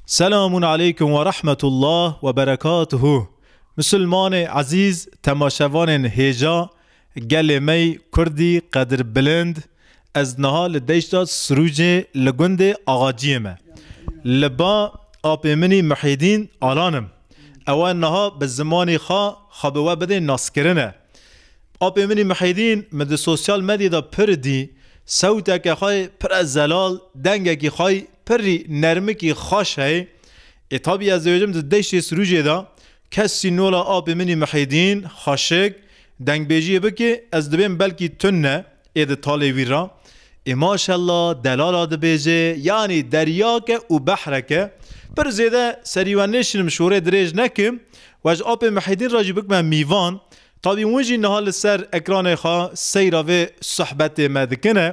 Selamun aleykum we rahmetullah we berekatuhu Musulmanê ezîz temaşevanên hêja gelê me yî kurdî qedirbilind ez niha li deşta Sirûcê li gundê Axaciyê me li ba apê min î Muhîdîn Alan im ewe niha bi zimanî xwe xwe bi we bidê naskirine apê min î Muhîdîn min di sosyal medyê de pir dî sewteke xwe yê pire zelal dengekî xwe yê Pirrî nermikî xweş heye. Ê tabî ez dibêjim di deştê Sirûcê de kes sînola apê min î Mihêdîn, Xweşik, dengbêjiyê bike ez dibêm belkî tune ê di talê wî re. Ê maşella delala dibêje yanî deryake û behreke. Pir zêde serî we nêşinim şorê dirêj nekim. We ji apê Mihêdîn re jî bikime mîvan. Tadî hûn jî niha li ser ekranê xwe seyra vê sohbetê me dikine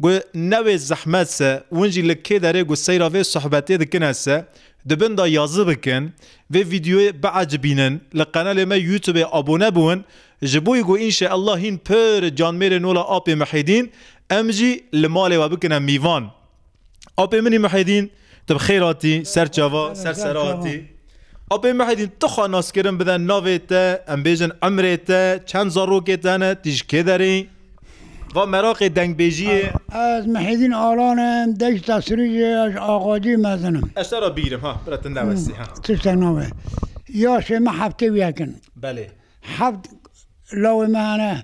ku ne wê zehmet se hûn jî li kê derê ku seyra vê sohbetê dikine se di bin de yazı bikin, vê vîdyoyê biecibînin, li qenalê me youtubê abone biwin ji bo ku înşeellah hîn pir canmêrên wila apê Mihêdîn em jî li malê we bikine mîvan. Apê min î Muhîdîn tu bi xêr hatî ser çava ser sera hatî. Apê Muhîdîn tu xwe naskirin bide navê te em bêjin emrê te çend zarokê te hene tu ji kê derê yî? Va meraqê dengbêjiyê. Ez Muhîdîn Alan im deşta Sirûcê ez ji Axaciyê mezin im. Ez te re bîgirim ha bira tu newestî ha. Tiştek nabe. Yaşê me heftê û yek in. Belê. Heft lawê me hene.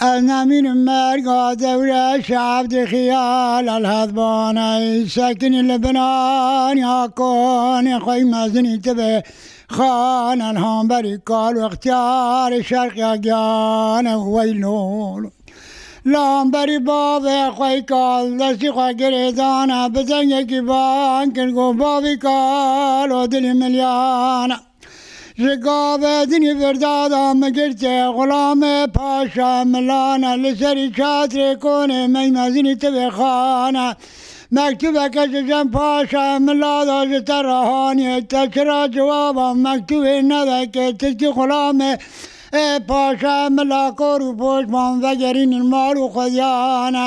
Ez nemînim merga dewre şev di xiyal elhet baney sekinî li binaniya konê xwe yî mezinî tibe xan elhamberî kal û ixtiyarê şerqiya giyane û wey lol lamberî bavê xwe yî kal destî xwe girê dane bi dengekî van kir got bavî kal o dilî milyane Ji gavê din ê firdada min girtê Xulame paşa milane Li serî çatrê konê mey mezinî ti vê xane Mektubeke ji Cem paşa milada ji te re haniyê Te çira ciwaba mektubê nede kê Tirkî Xulame ê paşa mila Kor û poşman vegerînin mal û xwediyane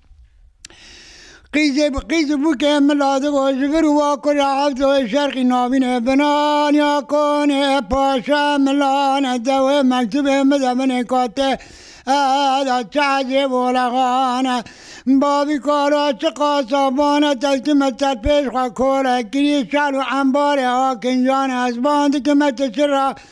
Qîzê bi qîz û bûkê mila digo ji vir û va kure hevdo ê şerqî navîne binaniya konê paşa milane dewê mektubê mide min ê katê eda çehecê volexane bavî kara çi qasa bane tevtime ser pêş xwe kore kirî şal û embarê akinjane ez bandikime tu çira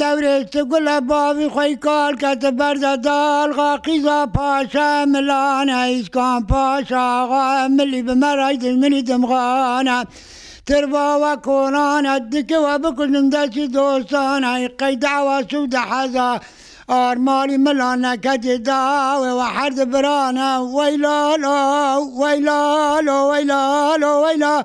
Dewrê tu gule bavî xwe yî kal kete berda dal xa Qîza Paşa Emilane Îskan Paşa axa Emilî bi me rey dijminî dimxane Tirba we konane dike we bikujim destî dostane Qey dawa sûde heza ar malî milan neketê dawê we her di birane Weylalo weylalo weylalo weylalo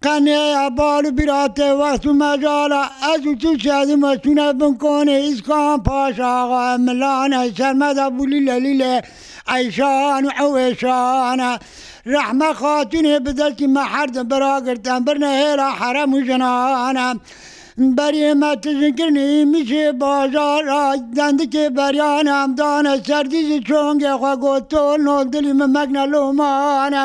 Qeniyeya bal û bîra tê wext û mecala. Ez û tu çedî me çûne bin konê Îskan Paşa axa em milane Sermeda bû lîle lîle eyşan û ewêşan e Rehme xatûnê bi destî me herdim bi ra girt em birine hêla herem û jinan e Beriyê me tijin kirinê îmişê bajar a Dendikê beriyan em dane ser dî ji çongê xwe got Tol nol dilî min mekne loman e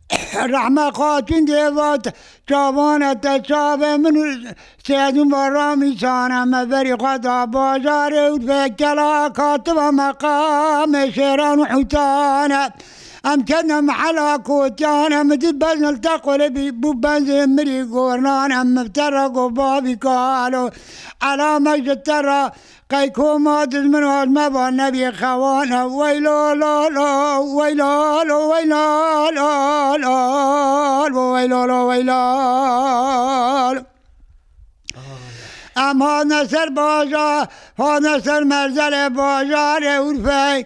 Rehme xatûn dê vat, Çavane te çavê min û Sêdûn va Ramîsane me berî xwe da bajarê û vê kela kativa me qamê şêran û hûtan e. Em ketine mehela kotiyan em di bezin li Teqolê bî bû benzê mirî gornan em te re got bavî kalo ela me ji te re Qey koma dizmino ez me va nebîyê xewane wey la la la wey la la wey la la la la wey la la wey la la Em hane ser bajar hane ser merzelê bajarê Urfeyê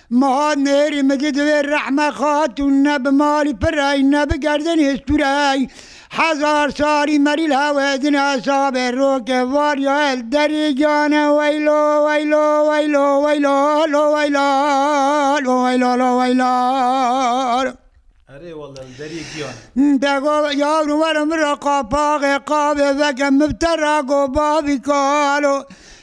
Meha nêrî min di divê Rehme Xatûn ne bi malî pirey ne bi gerdinê stûrey hezar salî merîl hewe din hesabê roke var ya el derê cane weylo weylo weylo weylo lo weyla lo weyla lo weyla. Erê walla li derê giyane. De go yavrum were min ra qapaxê qavê veke min bi te ra go bavî kalo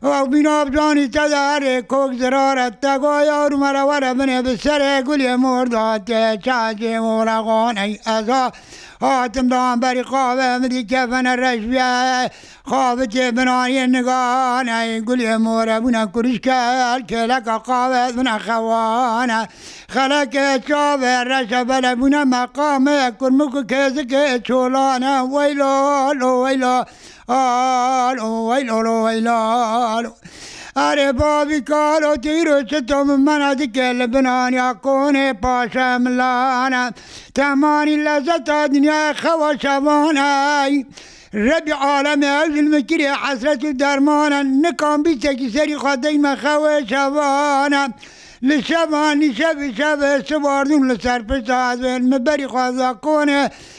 Wexbîna ev canî te de erê kok zirar e te got yar û mere were binê bi serê gulê mor de hatê çay cê wora xaney ez a hatim dan berî qabe min dît kefene reş biye xabitê binaniyê niganey gulê more bûne kurişker kêleka qabe ez bûne xewane xelekê çavê reşe bele bûne meqamê kurmik û kêzikê çolane weylo lo weylo. Alo weylolo weylalo Erê bavî kalo tu îro çito min mena dike li bin aniya konê paşe milane Temanî lezeta dinyaya xewa şevan ey Rebî alemê ew zilmikirîyê hesret û derman e Nikan bîsekî serî xwe deyme xewê şevane Li şevan nîşevî şevê sibardûn li ser pişta ez ên Min berî xweza konê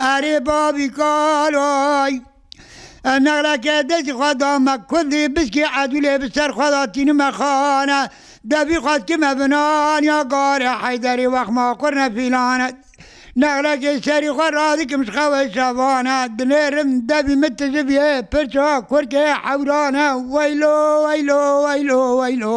Erê bavî kaloy. Em nexleke destê xwe da me kundê biskê edûlê bi ser xwe da tînime xane. Devî xwest ki me bi naniya garê Heyderê wext ma qurne fîlane. Nexlekê serî xwe radikim ji xewê şevane. Dinêrim devî min tijibiyê pirça kurkê hewrane. Weylo weylo weylo weylo.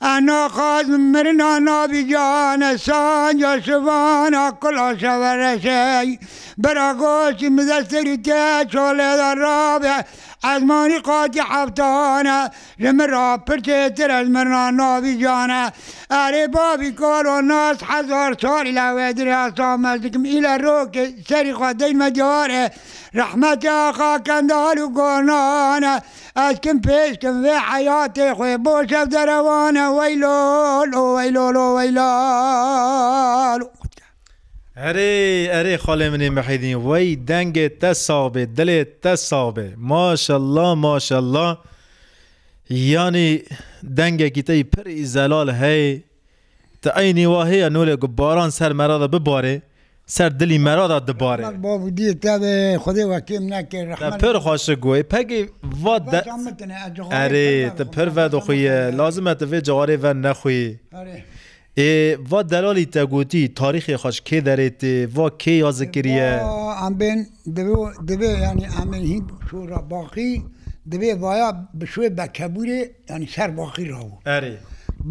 Ana qas bi mirina navê Cihane Sanc a Şivan a Kula Şevereşey bira goştî min de serî te çolê de rabe ez manî qatî heftan e ji min re pir çêtir e ji mirina navê Cihane Erê bavî kalo nas hezar sal île wê dirê ez tames dikim île rokê serî xwe deyme diyar e Rehmete Axa Kendal û Gonan e Ez kim pêş kim vê heyatê xwe bo şev derewane weylol o weylol o weylal o qut ke. Erê erê xalê min ê Mihîdîn wey dengê te sax bê dilê te sax bê maşallah maşallah yanî dengekî te yî pirî zelal heyê. Ti eynî wa heye nolê ku baran ser mera de bibarê, ser dilî mera de dibarê. Rehmet Babûdî tevê Xwedê we kêm neke rehmet. Te pir xweşik goyî pegî va de. Veşa min tine ez cixarê Erê ti pir vedoxuyî lazim e ti vê cixarê ver nexuyî. Erê. Ê va delalî te gotî tarîxê xwe ji kê derê tê, va kê ya zikiriye. Va em bên divê divê yanî em ê hîn şû re baqî divê vaya bi şûê bekebûrê. Yanî ser baqî rabû. Erê.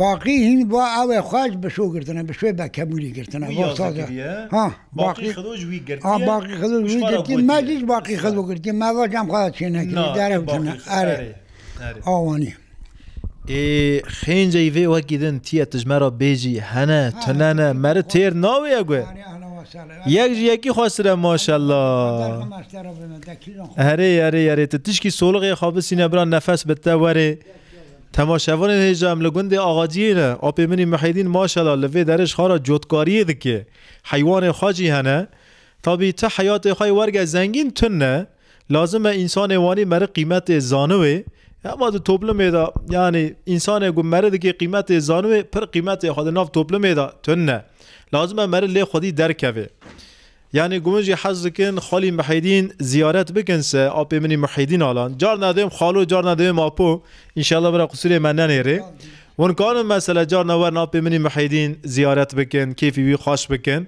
Baqî hîn va ew ê xwe ji bişo girtine, bişoyê bekebûlî girtine. Wî yaze kiriye. Ha. Baqî xido ji wî girtiye. Ha baqî xido ji wî girtiye. Me jî ji baqî xido girtiye. Me va cem xwe de çênekiriye. Derew çûne. Erê. Awanî. Ê xênceyî vê wekî din tîye tijme ra bêjî hene, tunene, meri têr nawêye gu. Yek ji yekî xweştir e maşallah. Erê erê erê tu tişkî solixê xwe bisîne bira nefes bi te were. Temaşevanên hêja em li gundê Axaciyê ne. Apê min î Mihêdîn maşallah li vê derê ji xara cotkariyê dike. Heywanên xwe jî hene. Tabî ti heyatê xwe yê werge zengîn tune. Lazim e însanê wanî meri qîmetê zaniwê, hema di toplumê de yanî însanê ku meri dikê qîmetê zaniwê pir qîmetê xwe di nav toplumê de tune. Lazim e meri lê xwedî derkevê. Yanî ku min jî hez dikin Xalî Mihêdîn ziyaret bikin se apê min î Mihêdîn Alan. Carna dibêm xalo carna dibêm apo. Înşallah bira qisûrê me nenêrê. Hûn karin mesela carna werin apê min î Mihêdîn ziyaret bikin, kêfî wî xweş bikin.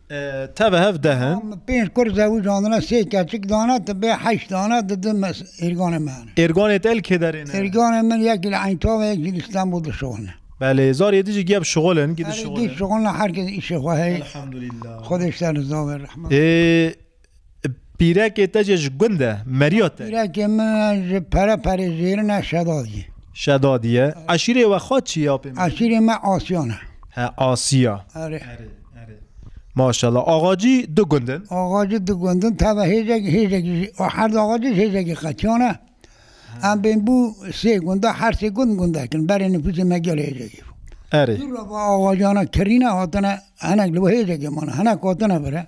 Tev hev deh in. Min pênc qur zewij andine, sê keçik dane, ti bê heşt dane, di di êrganê me hene. Êrganê te li kê derê ne? Êrganê min yekî li Eintava yek jî li Stenbol dişuxulne. Belê, zarê yê di jî giya bişuxulin, gî dişuxulin. Belê, dî şuxulne, her kes îşê xwe heye. Elhamdulillah. Xwedê ji te riza be, rehmet be. Ê Pîrekê te jî ji gund e, meriya te. Pîrekê min ji pere perê zêrin e Şedad ye. Şedad ye. Eşîrê we xwe çi ye apê min? Eşîrê me Asiyan e. He Asiya. Erê. Erê erê. Maşallah. Axacî du gund in? Axacî du gund in tevve hêjek hêjekî ji her du axacî ji hêjekî qetiyan e. Em bên bû sê gund e her sê gund gundek in. Berê nifûsê me gelê hêjekî bû. Erê. Dû re va axacana kirîne hatine hinek li bo hêjekê mane hinek hatine vir e.